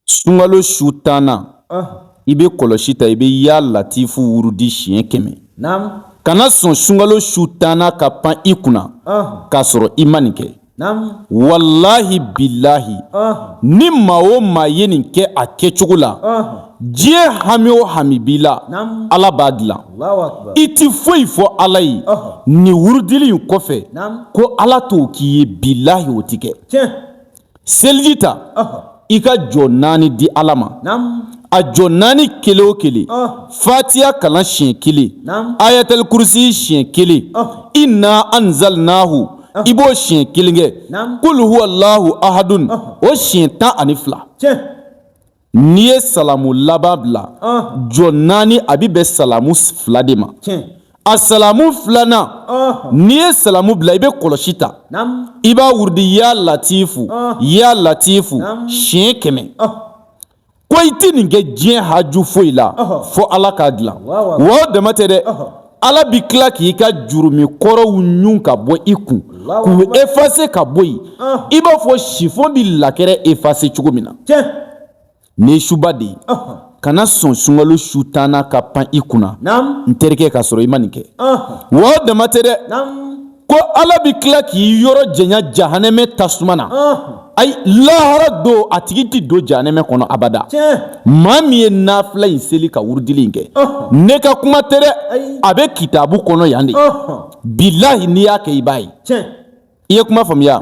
sunkalo su tannan i bɛ kɔlɔsi ta i bɛ yaa latifu wurudi siɲɛ kɛmɛ kana sɔn sunkalo su tannan ka pan i kunna k'a sɔrɔ i ma nin kɛ walahi bilahi ni maa o maa ye nin kɛ a kɛcogo la diɲɛ hami o hami b'i la ala b'a dilan i tɛ foyi fɔ ala ye nin wurudili in kɔfɛ ko ala t'o k'i ye bilayi o tɛ kɛ seliji ta i ka jɔ naani di ala ma a jɔ naani kelen o kelen fatiya kalan siɲɛ kelen ayatali kurusi siɲɛ kelen ina anzalinaahu i b'o siɲɛ kelen kɛ kul huwalahu ahadun o siɲɛ tan ani fila N'i ye salamu laban bila jɔ naani a bɛ bɛn salamu fila de ma a salamu filanan n'i ye salamu bila i bɛ kɔlɔsi ta i b'a wurudi yaa latifu yaa latifu siɲɛ kɛmɛ ko i tɛ nin kɛ diɲɛ haju foyi la fo ala k'a dilan wa o dama tɛ dɛ ala bɛ tila k'i ka jurumu kɔrɔw ɲun ka bɔ i kun k'u efase ka bɔ yen i b'a fɔ sifɔn bɛ lakɛrɛ efase cogo min na nin suba de ye kana sɔn sunkalo su tannan ka pan i kunna n terikɛ k'a sɔrɔ i ma nin kɛ wa o dama tɛ dɛ ko ala bɛ tila k'i yɔrɔ janya jahanama tasuma na ayi lahara don a tigi tɛ don jahanama kɔnɔ abada maa min ye nafila in seli ka wurudili in kɛ ne ka kuma tɛ dɛ a bɛ kitabu kɔnɔ yan de bilayi n'i y'a kɛ i b'a ye i ye kuma faamuya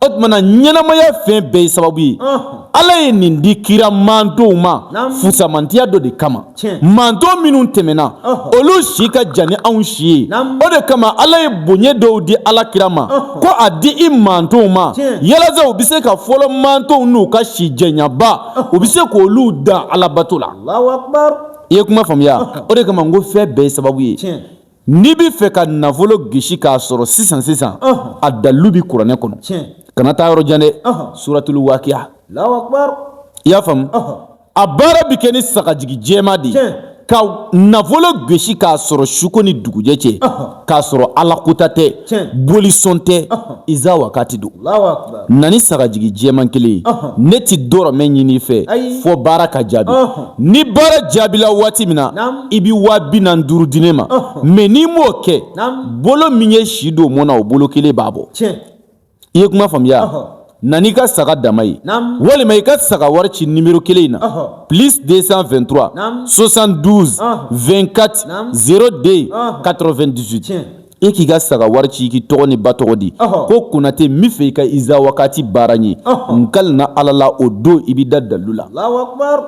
o tumana ɲɛnamaya fɛn bɛɛ ye sababu ye ala ye nin di kira mantonw ma fusamantiya dɔ de kama manton minnu tɛmɛna olu si ka jan ni anw si ye o de kama ala ye bonya dɔw di ala kira ma ko a di i mantonw ma yalasa u bɛ se ka fɔlɔ mantonw n'u ka si janyaba u bɛ se k'olu dan alabato la i ye kuma faamuya o de kama n ko fɛn bɛɛ ye sababu ye N'i bɛ fɛ ka nafolo gesi k'a sɔrɔ sisan sisan a dalilu bɛ kuranɛ kɔnɔ kana taa yɔrɔ jan dɛ suratuli wakiya i y'a faamu a baara bɛ kɛ ni sagajigi jɛman de ye ka nafolo gesi k'a sɔrɔ suko ni dugujɛ cɛ k'a sɔrɔ ala kɔtaa tɛ bolisɔn tɛ iza wakati don na ni sagajigi jɛman kelen ye ne tɛ dɔrɔmɛ ɲini i fɛ fo baara ka jaabi ni baara jaabila waati min na i bɛ waa bi naani ni duuru di ne ma mɛ n'i m'o kɛ bolo min ye si don mɔni na o bolo kelen b'a bɔ i ye kuma faamuya na ni i ka saga dama ye walima i ka saga wari ci nimɔrɔ kelen in na plus deux cent vingt-trois soixante-douze vingt-quatre zéro deux quatre-vingt-dix-huit e k'i ka saga wari ci k'i tɔgɔ ni ba tɔgɔ di ko konatɛ n b'a fɛ i ka iza wagati baara n ye n kalina ala la o don i bɛ da dalilu la